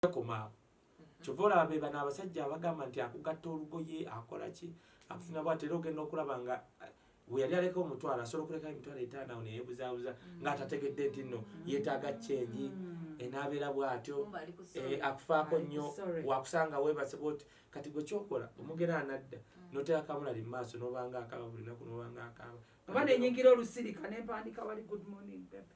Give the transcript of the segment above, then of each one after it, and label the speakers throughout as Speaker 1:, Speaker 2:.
Speaker 1: tekoma awo mhm. kyova olaba be bano abasajja abagamba nti akugatta olugoye akola ki akutuna bwati era ogenda okulaba nga eh, weyali aleka omutwalo asobola okuleka emitwalo etaano awo neyebuzabuza mm. ng'atategedde nti nno mm. yeetaaga kyengi mm. enaabeera eh, bw'atyo eh, akufaako nnyo wakusanga weebase bwoti kati gwe kyokola omugera anadda notera kamula li maaso nobanga akaba buli naku nobanga akaba oba nenyingira
Speaker 2: olusirika nempandika wali good morning bebe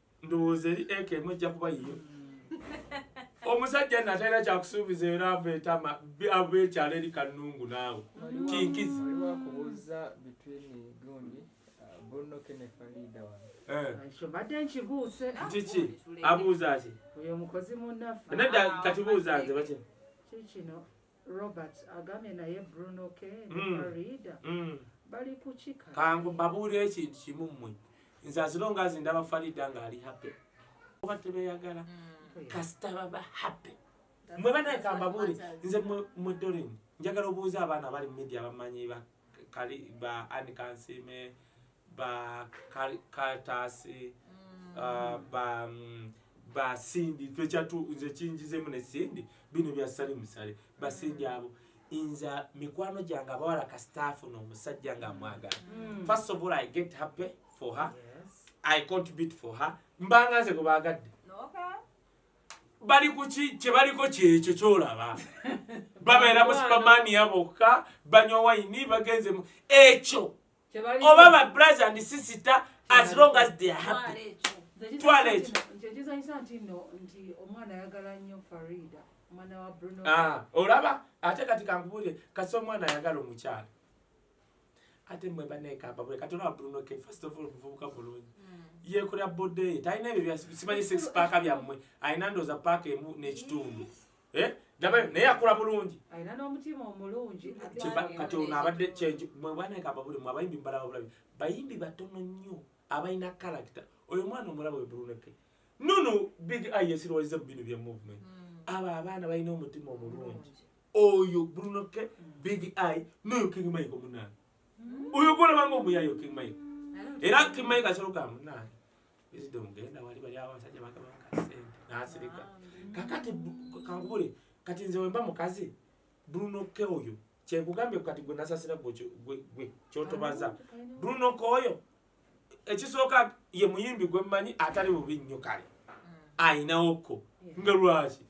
Speaker 1: ndowooza eri eka emu ejja kuba yiyo omusajja nno atalina kyakusuubiza era ava etama ava ekyalo eri kannungu naawe kinkizi
Speaker 3: kiki
Speaker 1: abuuza ki
Speaker 2: nedda kati buuza
Speaker 1: nze bakino
Speaker 2: Robert agambye naye Bruno K ne mm. Farida mm. bali kukika kangu babuulira
Speaker 1: ekintu kimu mmwe nze azilonga azi ndaba Farida ng'ali happy oba tebeyagala mm. kasita baba happy mwe banaye kambabuule nze mwe Dorin njagala obuuza abaana abali mu media bamanyi ba kali ba Anne Kansime ba katasi mm. uh, ba mm, ba sindi twechatu nze kinjize mune sindi bino bya sali musale ba sindi mm. abo inza mikwano janga bawala ka staff no musajja nga mwaga mm. first of all i get happy for her yes. i
Speaker 2: contribute
Speaker 1: for her mbanga nze kubagadde bali kuki kyebaliko kyekyo kyolaba babeera mu supamaani yabokka banywa wayini bagenze ekyo oba ba brothers and sister as long as they are happy twala ekyo
Speaker 2: ah, olaba
Speaker 1: ate kati kankubulire kasi omwana ayagala omukyala ate mwe banekambabule kati olaba bruno ke first of all muvubuka bulungi hmm. yekolera bodeye talina ebyo simanyi six paaka byammwe alina ndooza paaka emu n'ekitundu eh dabayo naye akula bulungi alina n'omutima
Speaker 2: omulungi kati ono
Speaker 1: abadde kyenju mwe bwana ekamba buli mwe abayimbi mbalaba bulabi bayimbi batono nnyo abalina kalakita oyo mwana omulaba we buluneke nono big eye esirowaliza mu bino bya movement hmm. abo abaana balina omutima omulungi oyo buluneke hmm. big eye noyo king mike omunaana hmm. oyo gwolabanga omuyayo king mike era king mike asobola okugamba munaana wisdom genda wali bali abasajja bagaba kasente nasirika kakati kankubule kati nze wemba mukazi bruno ke oyo kyekugambye kati gwe nasasira gwe kyotobaza bruno ke oyo ekisooka ye muyimbi gwe mmanyi atali bubi nnyo kale mm. ayinawoko nga lwaki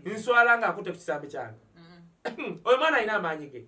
Speaker 1: nswala nga akute ku kisambi kyange mm. oyo mwana alina amaanyi ge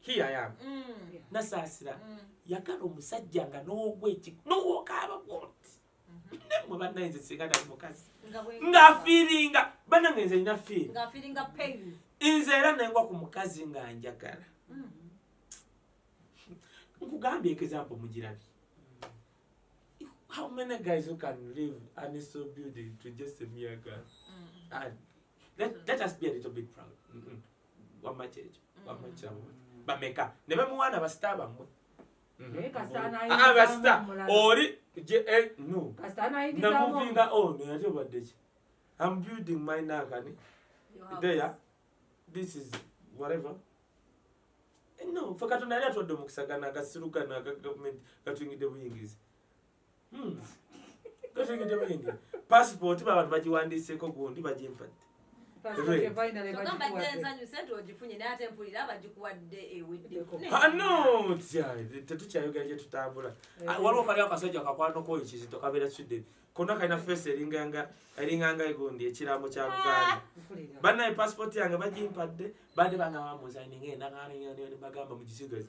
Speaker 1: here I am mm. nasaasira mm. yagala omusajja nga n'ogweki n'owokaaba bwoti mm-hmm. nemwe bannaye nze singa nali mukazi ng'afiiringa bannange nze nina fiiri nze era nengwa ku mukazi nga njagala mm. nkugambye example mugirabi how many guys who can live and is so beautiful to just a mere girl mm. and let, let us be a little bit proud mm -mm. wamma kyekyo wamma kiramu bameka ne bemuwaana basita bamwe abasita oli namuvinga ono yali obaddeki am building my nakani there this is whatever no fe katonda yali atwadde omukisa gana agasiru gano aga gavumenti gatuyingidde buyingizi hmm. totegedde bulenge pasipooti babantu bagiwandiiseko gundi bagimpadde tetukyayogera gyetutambula eh. ah, waliwo kali akasajja kakwanoko oyo kizito kabeera sweden kona kalina feesi eringanga egundi ekiraamo kya buganda ah, bannaye pasipooti yange bagimpadde bade bangamba muzayininga enagaanbagamba mugisigazi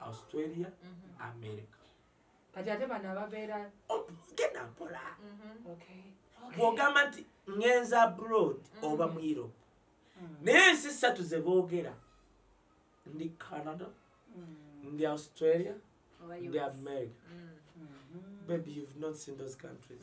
Speaker 1: australia mhm. america kati ate bano ababeera oh, genda mpola mhm. bwogamba nti ngenza abroad mhm. oba mu europe mm. naye ensi ssatu ze boogera ndi canada mm. ndi australia ndi america mm. bebi you've not seen those countries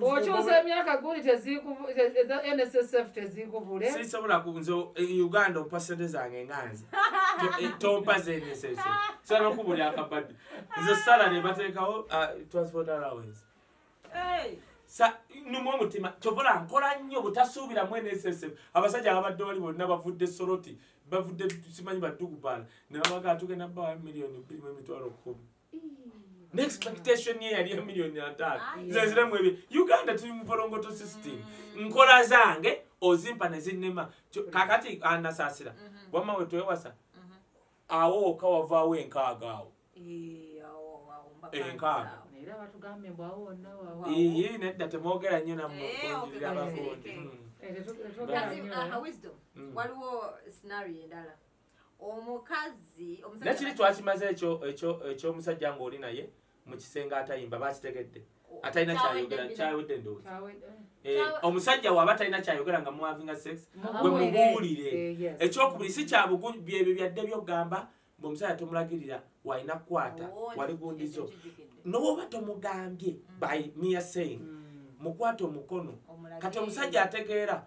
Speaker 1: okyusa emyaka guli nssf
Speaker 2: tezikubule sisobola kunze
Speaker 1: e uganda ompa sente zange nga nze e, tompa zensese sobola okubulya akabadi nze sala nebateekawo transport allowance numu omutima kyobola nkola nnyo butasuubira mu nssf abasajja ababadde wali bonna bavudde soroti bavudde simanyi badugubala nebabagala tugenda bawa miliyoni bbiri mu emitwalo kumi neexpectation ye yali emiliyoni ataano zeziramu ebyo uganda tuli muvolongoto system mm. nkola zange ozimpa nezinema kakati anasaasira mm-hmm. wamma wetwewasa mm-hmm. awo oka wavaawo enkaaga awo enkaaga
Speaker 2: iyi nedda temwogera
Speaker 1: nnyo namukunjirira abakundi
Speaker 4: waliwo scenario endala omukazi omusajja nakiri
Speaker 1: twakimaze ekyo ekyo ekyo omusajja ng'oli naye mu kisenge atayimba bakitegedde atalina kyayogera kyawedde ndowooza eh, omusajja waaba atalina kyayogera nga muwavinga sex gwe mubuulire eh, ekyokubiri si kyabugu byebyo byadde byokugamba mbu omusajja tomulagirira walina kukwata oh, wali gundizo nowooba tomugambye mm. by mia saying mm. mukwata omukono kati omusajja ategeera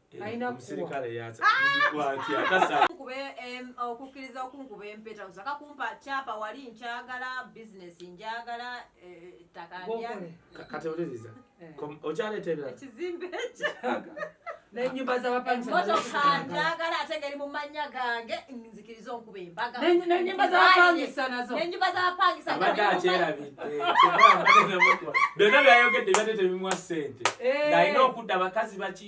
Speaker 1: okukkiriza
Speaker 4: okunkuba empeta osaka kumpa kyapa wali nkyagala bizinesi njagala
Speaker 1: ettaka okyaleeteekizimbe
Speaker 2: nenyumba zabapangisaaagala
Speaker 4: ate ngeri mu mannya gange nzikiriza onkuba embaganenyumba zabapangisa
Speaker 2: nazo nenyumba
Speaker 1: zabapangisabyonna byayogedde byadde tebimuwa sente eh. nalina okudda bakazi baki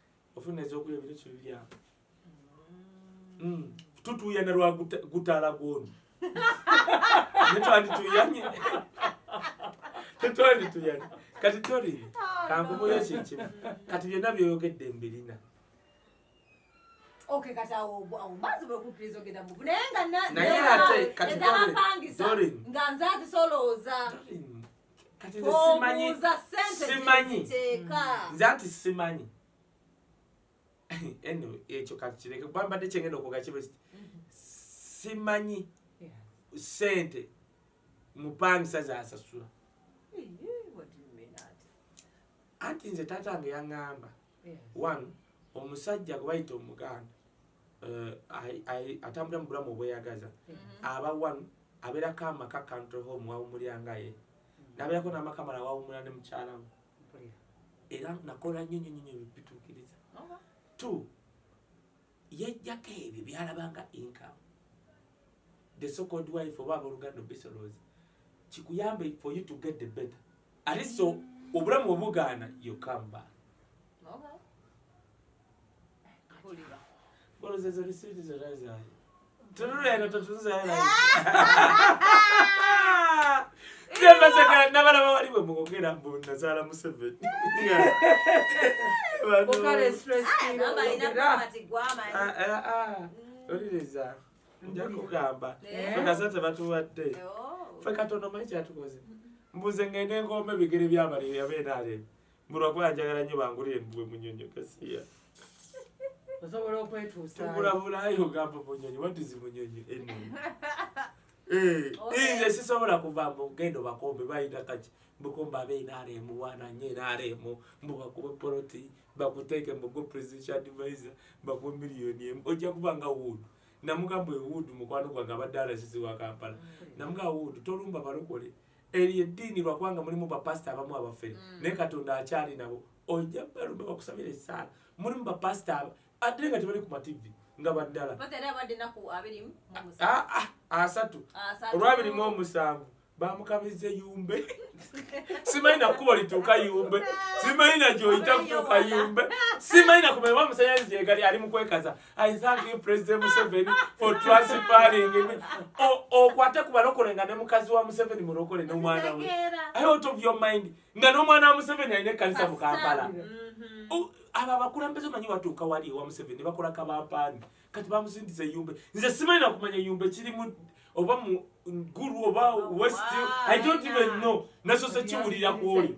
Speaker 1: ofuna ezokulya bino kibibyamu hmm. tutuyana lwa gutala gwono netwandituyanye tetwandituyanye kati toli oh, kankubuyo kyekimu kati byonna byoyogedde mbirina
Speaker 4: naye ate
Speaker 1: kati dorin kati nze simanyi obuuza
Speaker 4: sente Simanyi. gyeziteeka
Speaker 1: nze anti simanyi anyway ekyo kakireke kuba mbadde kyengenda okwoga kibe kiti simanyi Yeah. sente mupangisa zasasula Iyii, what do you mean that? anti nze taata nge yaŋŋamba one omusajja gwebayita omuganda eh, atambulira mu bulamu obweyagaza mm-hmm. aba one abeerako amaka country home wawumuliranga ye mm-hmm. nabeerako n'amaka mala wawumula ne mukyalamu era nakola nnyo nnyo nnyo bituukiriza two yajjako ebyo byalabanga income the so called wife oba aboluganda obisolooza kikuyambe for you to get the better ate so obulamu obugaana you come back okay. Tululeno totunzala. Nabasaka nabalaba wali bwe mugogera mbu nazaala Museveni. Okale
Speaker 2: stress kilo. Ah, Mama ina mama
Speaker 4: tigwama. Ah ah. ah. Mm. Oliriza.
Speaker 1: Nja kugamba. Eh. Fena sate batuwadde. Eh, oh. Feka tono mai kyatukoze. Mbuze ngende ngombe bigere byabali yabeera ale. mulwakuba njagala nyo bangulire mbuwe munyonyo kasiya
Speaker 2: osobola okwetuusaokulabulayo ogamba
Speaker 1: munyonyi watizi munyonyi eno eh, eh, nze sisobola kuva mbu genda obakombe bayina kaki mbukomba abe enaremu wananye enaremu mbu bakube poloti bakuteeke mbugo presidential advisor bakube miliyoni emu ojja kuba nga wuudu namugamba ewuudu mukwano gwange abadde alasizi wa kampala mm. namugamba wuudu tolumba balokole mm. Eyo eddiini lwakubanga mulimu bapasita abamu abafere mm. naye katonda akyali nabo ojja balumbe bakusabira esaala mulimu bapasita aba ate nga tebali ku mativi nga baddala ah, ah, asatu olwabiri mu omusanvu bamukabiza eyumbe simanyi nakukuba lituuka yumbe simanyi nagyoyita kutuuka yumbe simanyi nakumanya bamusanyaliza egali ali mukwekaza I thank you President Museveni for transferring me. Oh, oh, kwate kubalokole nga ne mukazi wa Museveni mulokole no mwana we. I out of your mind. Nga no mwana wa Museveni aine kanisa mu Kampala. Mm-hmm. Oh, aba abakulembeze manyi watuuka wali ewa Museveni bakola kabampaani kati bamusindiza eyumbe nze simanyi nakumanya eyumbe kirimu oba mu guru oba oh, west i don't even know nasoze kiwulira kwoli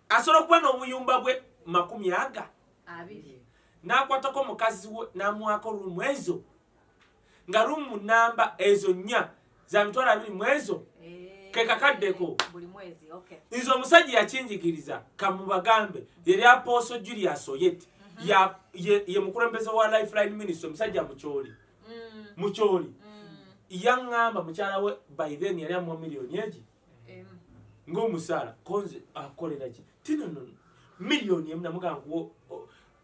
Speaker 1: asobola okuba n'obuyumba bwe makumi aga n'akwatako mukazi we n'amuwaako ruumu ezo nga ruumu namba ezo nnya za mitwalo abiri mu ezo eh, kekakaddeko
Speaker 4: nze omusajja
Speaker 1: yakinjigiriza kamubagambe yali apooso julius oyet mhm. ye mukulembeze wa lifeline ministry omusajja mukyoli mm. mukyoli mm. yaŋŋamba mukyala we by then yali amuwa miliyoni egi ng'omusaala konze akolera ki tinono miliyoni emu namugankuwo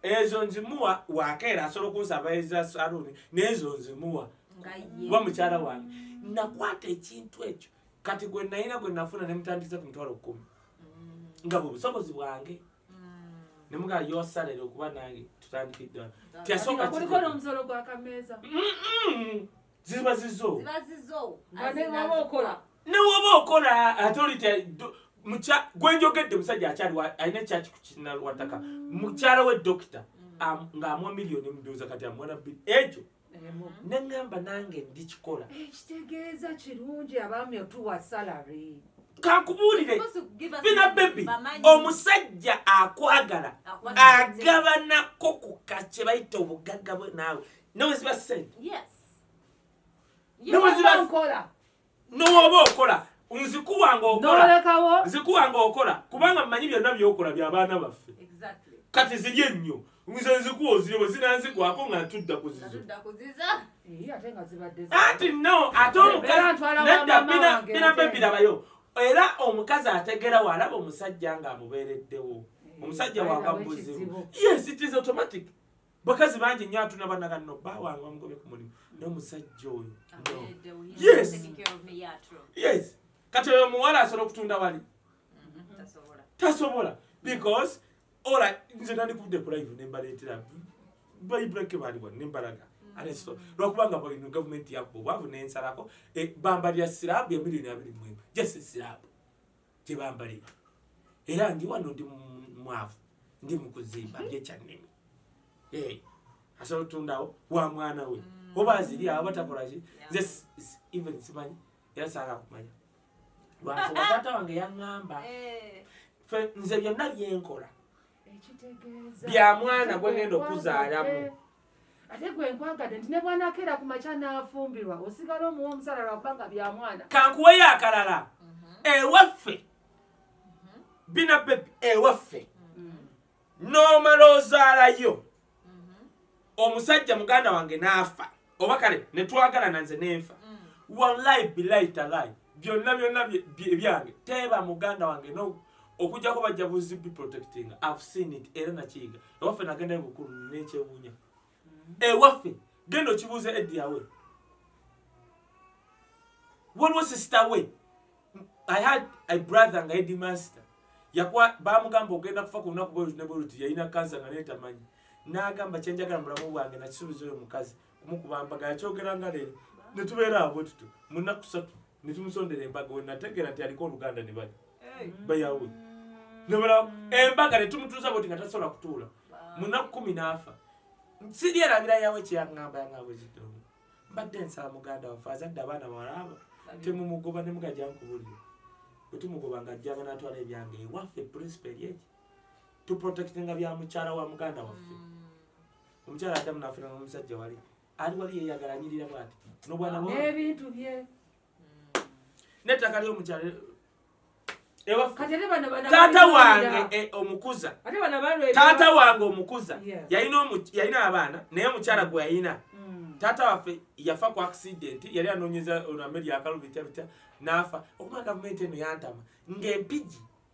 Speaker 1: ezo nzimuwa wakeera asobola okunsaba eza saluuni n'ezo nzimuwa kuba mukyala wange nakwata ekintu ekyo kati gwe nayina gwe nafuna ne mutandise ku mutwalo kkumi mm. nga bwe busobozi bwange mm. ne mugaa yosalere okuba nange tutandikiddwa tyasooka kuliko n'omusolo
Speaker 2: gwakameeza
Speaker 1: ziba zizo ziba zizo newoba okola newoba okola ate oli mukya gwenjogedde musajja akyali alina ekyaki ku kinalwataka mukyala we dokita mm. ng'amwa miliyoni muduuza kati amwana bbiri ekyo neŋŋamba nange ndikikola ekitegeeza eh,
Speaker 2: kirungi abaami otuwa salary kankubuulire
Speaker 1: bina bebi omusajja akwagala agabanako ku kakye bayita obugagga bwe naawe neweziba sente nowoba okola nzikuwa nga okola kubanga mmanyi byonna byokola byabaana baffe kati ziri ennyo nze nzikuwa ozire bwe zinanzigwako nga ntudda kuziza anti no ate omukazinedabinabebirabayo era omukazi ategera waalaba omusajja nga amubeereddewo omusajja wanga muzibu yes it is automatic bakazi bangi nyo atuna bana kanno bba wange bamugobye ku mulimu naye omusajja oyo yes kati oyo omuwala asobola okutunda wali mm-hmm. tasobola because ola nze nandikudde ku live nembaleetera baibulake baliwa nembalaga mm-hmm. lwakubanga bwino gavumenti yakuba obwavu nensalako e, bamba lya sirabu ya milioni abiri mwemu just sirabu gye bambalira era ndi wano ndi mwavu ndi mu kuzimba byekyannimi eh, asobola otundawo wa mwana we mm. oba aziri awo batakolaki nze even simanyi era saaka kumanya lwansonga taata wange yaŋŋamba eh. fe nze byonna byenkola bya mwana gwegenda okuzaalamu ate
Speaker 2: gwe nkwagadde nti ne bwanakeera ku makya n'afumbirwa osigala omuwa omusala lwakubanga bya mwana kankuweyo akalala
Speaker 1: mhm. ewaffe mhm. bina bebi ewaffe mhm. n'omala ozaalayo omusajja muganda wange n'afa oba kale ne twagalana nze n'enfa mm. wallahi bilayi talayi byonna byonna ebyange teeba muganda wange no okujjako bajja buzi biprotectinga i've seen it era nakiyiga ewaffe nagenda ebukulu nekyewunya mm-hmm. ewaffe genda okibuuza ediyawe waliwo sister we i had a brother nga edi master yakuwa bamugamba ogenda kufa ku lunaku bweruti ne bweruti yalina kansa nga netamanyi n'agamba kyenjagala mubulamu bwange nakisuubiza oyo mukazi kumukuba mbaga yakyogera nga leero ne tubeera awo bwe tutyo mu nnaku ssatu ne tumusondera embaga we nategeera nti aliko oluganda ne bali bayawe nebala embaga ne tumutuuza bwoti nga tasobola kutuula mu nnaku kumi n'afa siri erabira yawe kyeyaŋŋamba yaŋŋabwezidomu mbadde nsaba muganda waffe azadde abaana bawalaaba temumugoba ne mugaja nkubulire bwe tumugoba nga ajjanga n'atwala ebyange ewaffe principal yeki tuprotectinga bya mukyala wa muganda waffe mm. omukyala adamu nafuna nomusajja wali ali wali yeyagala anyirira bwati nobwana nebintu bye nettaka lyomukyala taata wange e, omukuza taata wange omukuza yalina abaana naye omukyala gwe yalina hmm. taata waffe yafa ku accident yali anonyeza olwambe lyakalubitya bitya nafa okuba gavumenti eno yantama ngaempiji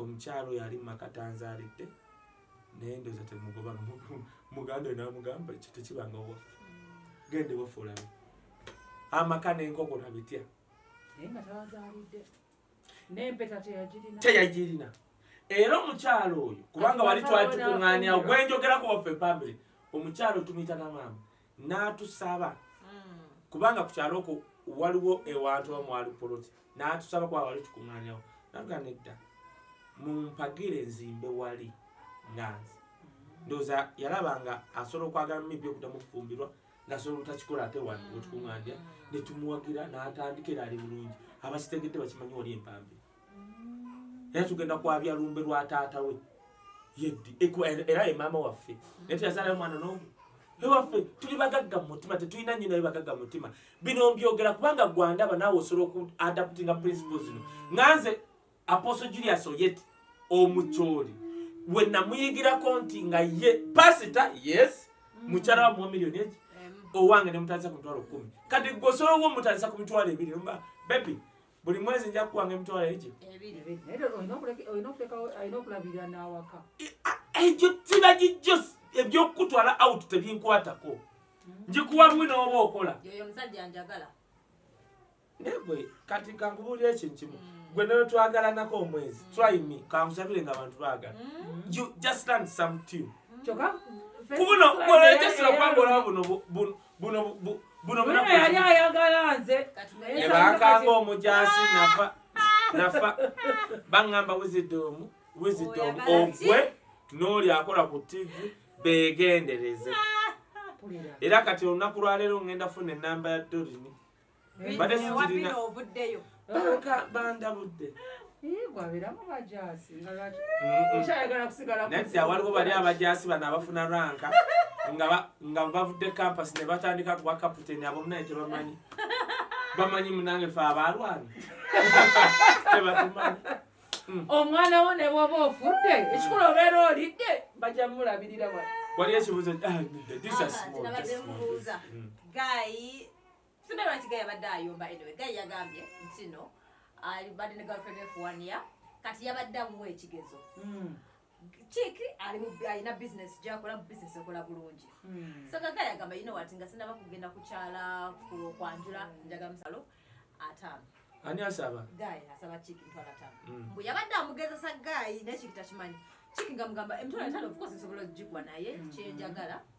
Speaker 1: Omukyalo yali makata nzalidde naye ndoza temugoba muganda oyo namugamba ekyo tekibanga owaffe mm. genda ewaffe olabe amaka nenkoko nabitya teyagirina era omukyalo oyo kubanga wali twali tukuŋŋaanyawo gwenjogerako waffe pambire omukyalo tumuyita namaama n'atusaba hmm. kubanga ku kyalo okwo waliwo ewantu oba mwali poloti n'atusaba kuba wali tukuŋanyawo natugaa nedda mumpagire nzimbe wali nganzi hmm. ndowooza yalaba nga asobola okwagala mibbi okudamu okufumbirwa ngasobola obutakikola ate wano wetukuŋanja hmm. netumuwagira n'atandika era ali bulungi abakitegedde bakimanyi wali empambi era tugenda kwabya lumbe lwa taata we yeddi era ye maama waffe naye teyazaalayo mwana n'omu ewaffe tuli bagagga mu mutima tetulina nnyo naye bagagga mu mutima bino mbyogera kubanga gwandaba naawe osobola oku adaptinga principle zino nga nze apostle julius oyet omucooli we namuyigirako nti nga ye pasita yes mm. mukyala wa muwa miliyoni eki owange ne mutandisa ku mitwalo kumi kati gwe osobola owo mutandisa ku mitwalo ebiri mba bebi buli mwezi nja kuwanga emitwalo egyo egyo tiba gijjo ebyokukutwala out tebinkwatako hmm. njikuwa bwi nooba okola negwe kati kankubuulira ekyo nkimu hmm. gwe nayo twagalanako omwezi hmm. try me kankusabire nga abantu baagala just learn some tune kubuno kubola ekyesira kwangolawo buno buno buno buno yali
Speaker 2: ayagala nze ebankanga
Speaker 1: omujaasi nafa nafa bangamba wisdom wisdom ogwe n'oli akola ku tv begendereze era kati olunaku lwaleero ngenda funa enamba ya dorini mbadde sikirina banka bandabudde nedda waliwo bali abajaasi bano abafuna ranka nga bavudde campus ne batandika kuba kaputeni abo munaye tebamanyi bamanyi munange fe abalwana tebatumanyi hmm. omwana
Speaker 2: wo ne bwoba ofudde ekikulu obeera olidde bajja mulabirira wali ekibuzo
Speaker 1: ah, hmm.
Speaker 4: Sina lwaki gaya badde ayomba anyway gaya yagambye nti no ali badde ne girlfriend for one year kati yabadde amuwa ekigezo mm. kiki ali mu alina business gyakola mu business ekola bulungi mm. so gaga yagamba you know what nga sinaba kugenda kukyala kwanjula njaga musalo ataano ani asaba
Speaker 1: gayi asaba kiki
Speaker 4: ntwala taano mm. mbu yabadde amugezesa gayi naye kiki takimanyi kiki nga mugamba emitwala taano of course nsobola ogigwa naye mm. kyenjagala mm.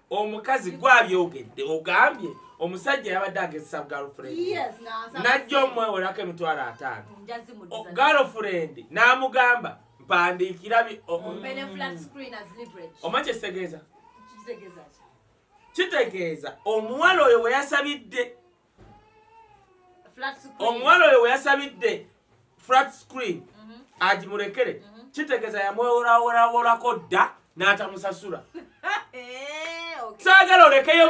Speaker 4: omukazi
Speaker 1: gwe abyogedde ogambye omusajja yabadde agezesa galfurendi najja omwewolako emitwalo ataano galfurendi n'amugamba mpandiikira oma kyekitegeeza kitegeeza omuwala oyo bwe yasabidde omuwala oyo weyasabidde flat screen mhm. agimulekere mhm. kitegeeza yamweworaworaworako dda n'atamusasula eh, saagala olekeyo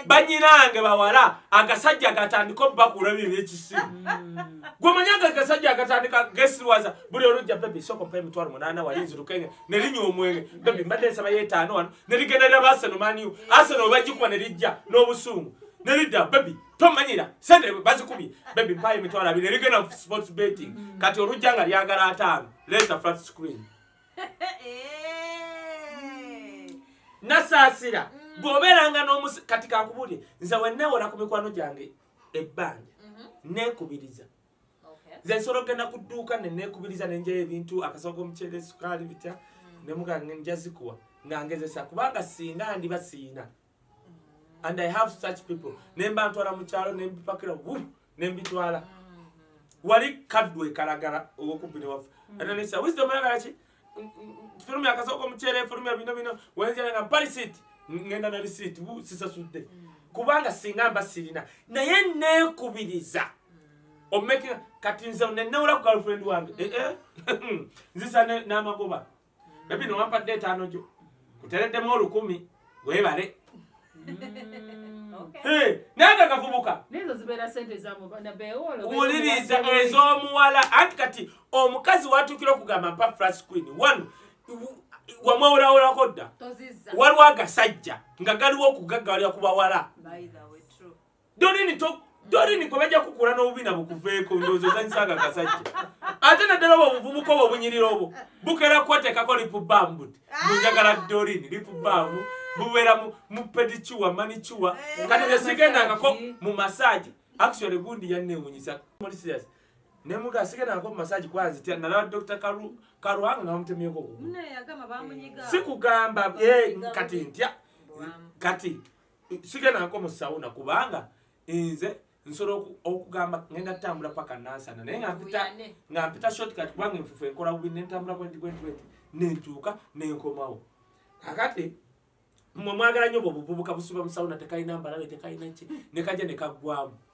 Speaker 1: banyinange bawala agasajja gatandika obubakula byo ebyekisimu mm. gwemanyi aga gasajja agatandika gesiwaza buli olujja bebi sokompa emitwalo munaana wali nzirukenge nerinywa omwenge bebi mbadde nsaba yetaano wano ne ligenda lya baseno maniu aseno bajikuba ne lijja n'obusungu ne lidda bebi tomanyira sente bazikubye bebi mpayo emitwalo abiri ne ligenda mu sports betting kati olujja nga lyagala ataano leeta flat screen nasaasira mm. bw'obeeranga n'omusi kati kankubulire nze wenneewola ku mikwano gyange ebbanja mm-hmm. neekubiriza nze nsobola okugenda ku dduuka ne neekubiriza ne njayo ebintu akasawo k'omuceere esukaali bitya ne mugaa nja zikuwa nga ngezesa kubanga singa ndiba siina and i have such people ne mba ntwala mu kyalo ne mbipakira wu ne mbitwala wali kaddu ekalagala owokubbine waffe ananisa wisdom yagala ki fulumya akasoko omukyere fulumya bino bino wenjala nga mpali siiti ngenda na lisiiti sisasudde mm. kubanga singa mba sirina naye neekubiriza omumeki kati nze nenewula ku galfriend wange eh, eh. nzisa n'amagoba bebi nowampadde etaano gyo kutereddemu olukumi webale naye nga gavubuka wuliriza ez'omuwala anti kati omukazi watuukira okugamba mpa fras queen one wamwewulawulako dda waliwo agasajja nga galiwo okugaggalira ku bawala Dorini to Dorini gwe bajja kukula n'obubi na bukuveeko ndowooza ozanyisa nga kasajja ate naddala obwo obuvubuka obwo obunyirira obwo bukera kuwateekako lipu bambu mbu njagala Dorini lipu bambu bubeera mu pedicuwa manicuwa eh. kati nze sigendangako mu masaagi actually gundi yanneewunyisa muli serious ne muga asigendangako mu masaagi kuba nzitya nalaba dr karuhanga nga bamutemyeko okugulu sikugamba eh, kati ntya kati sigenako mu sauna kubanga nze nsobola okugamba ngenda tambula paka nansana naye nga mpita shortcut kubanga enfufu enkola bubi nentambula bwendi bwendi bwendi nentuuka nenkomawo kakati mwe mwagala nyo bwobuvubuka busiba musauna tekalina mbalabe tekalina ki nekaja nekaggwamu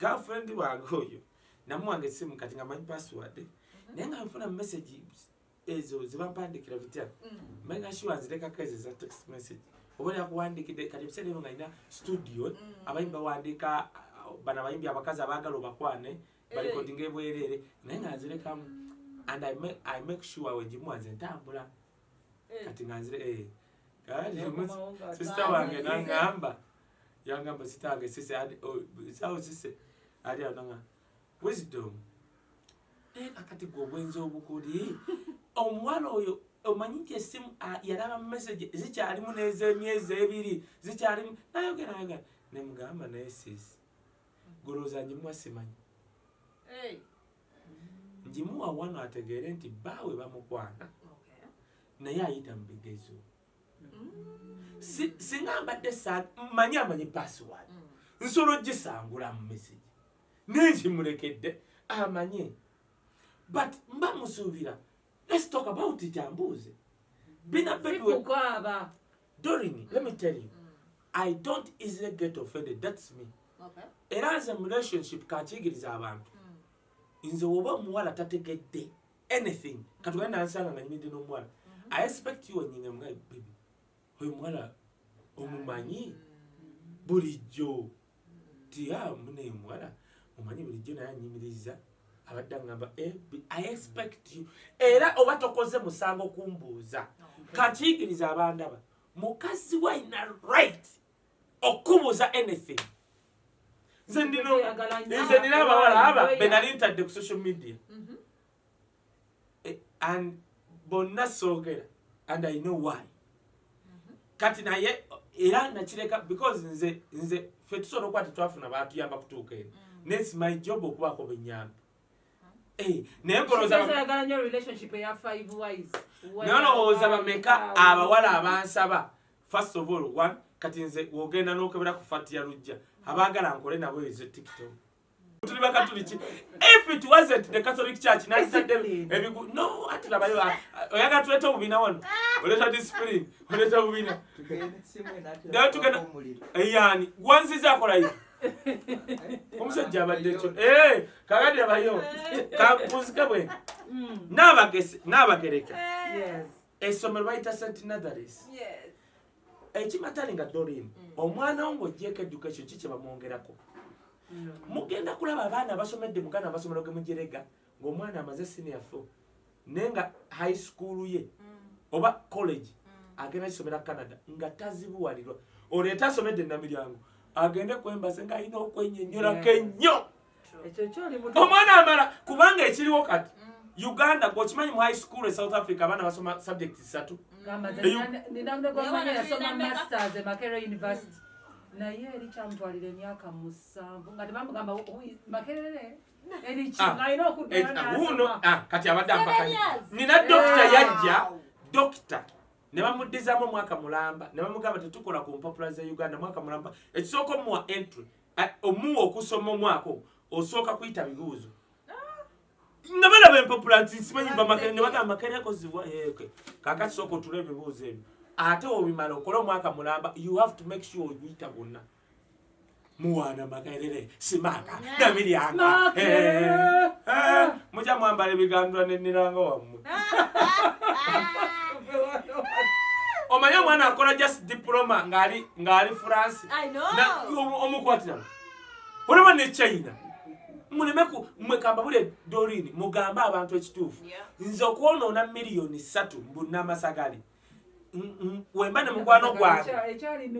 Speaker 1: girlfriend wange oyo namuwanga esimu kati nga manyi password naye nga nfuna message ezo zebapandikira bitya mm. manyi nga sure nzirekako ezo eza text message oba yakuwandikidde kati ebiseera ebyo nga alina studio mm. abayimbi bawandiika bano abayimbi abakazi abaagala obakwane eh. balikodinga ebwereere naye nga nzirekamu and i make sure wegimuwa nze ntambula eh. kati nga nzire eh. kati sister wange nangamba yangamba sitange sise ali sawo sise ali ananga wisdom naye kakati gwe obwenzi obukuli omuwala oyo omanyi nti esimu yalaba mumesage zikyalimu nezemyezi ebiri zikyalimu nayogera nayoga nemugamba naye sis goloza njimuwa simanyi njimuwa wano ategeere nti baawe bamukwana naye ayita mubigezo singa mbadde manyi amanyi pasiwadi mm. nsobola ogisangula mu mesegi naye nkimulekedde amanye but mba musuubira let's talk about it ambuuze bina bebiwekukaaba
Speaker 2: dorini
Speaker 1: let me tell you mm. i don't easily get offended that's me era nze mu relationship kakiyigiriza abantu mm. nze woba omuwala tategedde anything katugenda nansanga nga nyimidde n'omuwala mm-hmm. i expect you onyinga mga bibi oyo muwala omumanyi mm-hmm. bulijjo tiya ah, mune omuwala omanyi bulijjo naye anyimiriza abadde agamba eh, i expect you era oba tokoze musango kumbuuza oh, kakiigiriza abandaba mukazi walina right okukubuuza anything nze ndino nze nina abawala aba benali ntadde ku social media mhm. eh, and bonna soogera and i know why mhm. kati naye era nakireka because nze nze fe tusobola okuba tetwafuna batuyamba kutuuka eno mm. nesi my job okubaako benyamba Eh, naye nolowooza bameka abawala abansaba first of all one kati nze wogenda nokebera ku fati ya lujja abagala nkole nabo ezo tiktok tuli bakatuliki if it wasn't the catholic church nalisadde ebigu no ati labayo oyaga tuleta obubina wano oleta discipline oleta obubina naye tugenda eyani eh, gwanziza akola yi omusajja abadde kyo eh, kakati labayo kampuzike bwe mm. nabagereka esomero bayita st natharis ekimatali nga dorin mm. omwana wo ngaogyeko education ki kyebamwongerako mm. mugenda kulaba abaana abasomedde mugana amasomero gemujerega ngaomwana amaze senior fo naye nga high school ye mm. oba college agenda kisomera canada nga tazibuwalirwa oleeta asomedde namiryango agende kwembase nga alina okwenyonyolako ennyo omwana amala kubanga ekiriwo kati mm. uganda gwekimanyi mu high school e south africa abaana basoma subject zisatu naye
Speaker 2: eri kyamutwalira emyaka musanvu nga tebamugamba makerere wuuno kati abadde
Speaker 1: ampakanya nina dokita yajja dokita ne bamuddizamu omwaka mulamba ne bamugamba tetukola ku mpapula za uganda mwaka mulamba ekisooka omuwa entry omuwa okusoma omwaka osooka kuyita bibuuzo nga balaba empapula nti nsimanyi bamakere ne bagamba makerekozibwa eke eh, kakati sooka otula ebibuuzo ebyo ate obimala okole omwaka mulamba you have to make sure oguyita bwonna muwana makerere simaka nabiryangamuja eh, eh, mwambala ebigandula neniranga wamu omanyi omwana akola just diploma ngali ngali france omukwatirano olaba ne china muleme mwekamba bule dorini mugambe abantu ekituufu nze okwonoona miliyoni satu mbunamasagali wemba ne mukwano gwange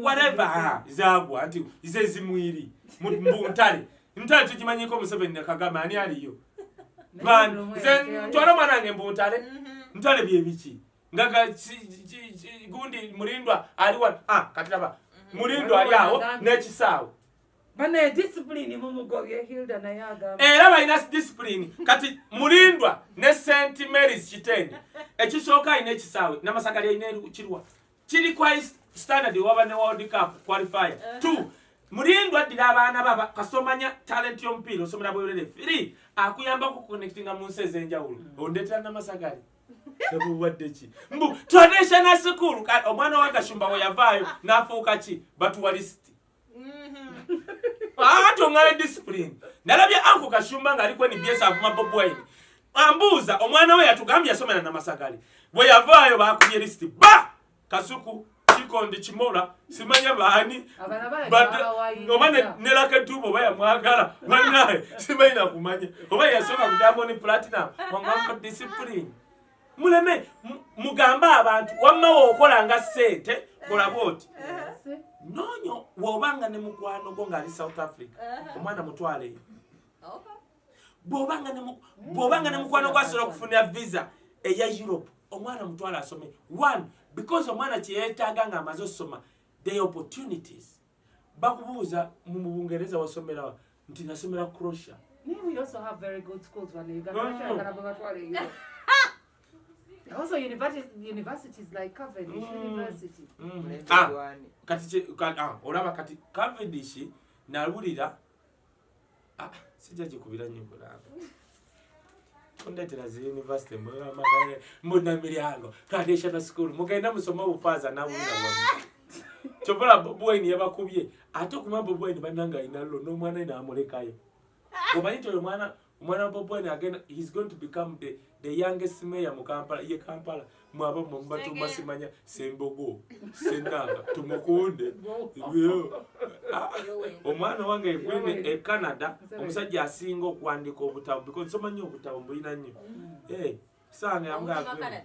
Speaker 1: whatever zagwa nti ze zimwiri mu ntale ntale tukimanyiko museveni ne kagame ani aliyo ntwala omwana wange mbu ntale mm-hmm. ntale byebiki nga gundi mulindwa aliwa ah, katiraba mm-hmm. mulindwa ali awo n'ekisaawe banaye
Speaker 2: discipline mumugobye hilda naye agamba era balina discipline
Speaker 1: kati mulindwa ne st marys kitende ekisooka alina ekisaawe namasagali alina kirwa kiri kwa standard waba ne world cup qualifier uh-huh. two mulindwa addira abaana baba kasomanya talent yomupiira osomera bwerere three akuyambako kuconnectinga mu nsi ez'enjawulo mm. ondetera namasagali ebuwaddeki mbu traditional school omwana wa gashumba weyavaayo n'afuuka ki batuwalisi ate oŋŋala disipulini nalabye anko kashumba ng'aliko nbs avuma bob wine ambuuza omwana we yatugambye yasomera namasagale bwe yavaayo bakubye lisiti ba kasuku kikondi kimola simanya baani oba nelaketuba oba yamwagala banaye simanyi nakumanya oba yasoma kudamoni platinum omwambo disipulini muleme mugambe abantu wamma wokola nga sente kola bwoti nonyo wobanga ne mukwano gwo ngaali south africa uh-huh. omwana mutwaleyo bwobanga ne mukwano gwo asobola okufunira visa eya europe omwana mutwale asome one because omwana kyeyetaaga nga amaze osoma the opportunities bakubuuza mu bungereza wasomerawa nti nasomera crosia Also, university, university
Speaker 2: is like Cavendish mm. University. Mm. Ah, kati,
Speaker 1: ah, olaba kati Cavendish nalulira Ah, sijja gikubira nnyo mulamba ondeetera zi yunivasite mbuna miryango traditional school mugenda musoma obufaaza nabuna kyobola bobwine yabakubye ate okuma bobwine bananga ayinallo n'omwana ye namulekayo omanyi nti oyo mwana omwana bobwani agenda he's going to become the, the youngest mayor mu kampala ye kampala mwaba mubatuuma simanya sembogo senanga tumukunde ah, omwana wange egwende e canada omusajja asinga okwandika obutabo because nsoma nnyo obutabo mbulina nnyo mm. eh, sange amugagwe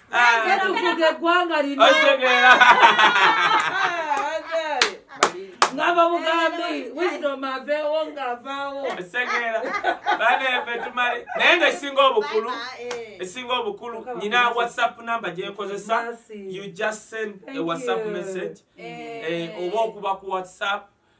Speaker 2: tuvuga eggwanga lino ngava bugambi wisdom aveewo ngavaawo esegeera
Speaker 1: banefe tumale naye nga esinga
Speaker 2: obukulu
Speaker 1: esinga obukulu nyina whatsapp number gyenkozesa you just send a whatsapp message eh, oba okuba ku whatsapp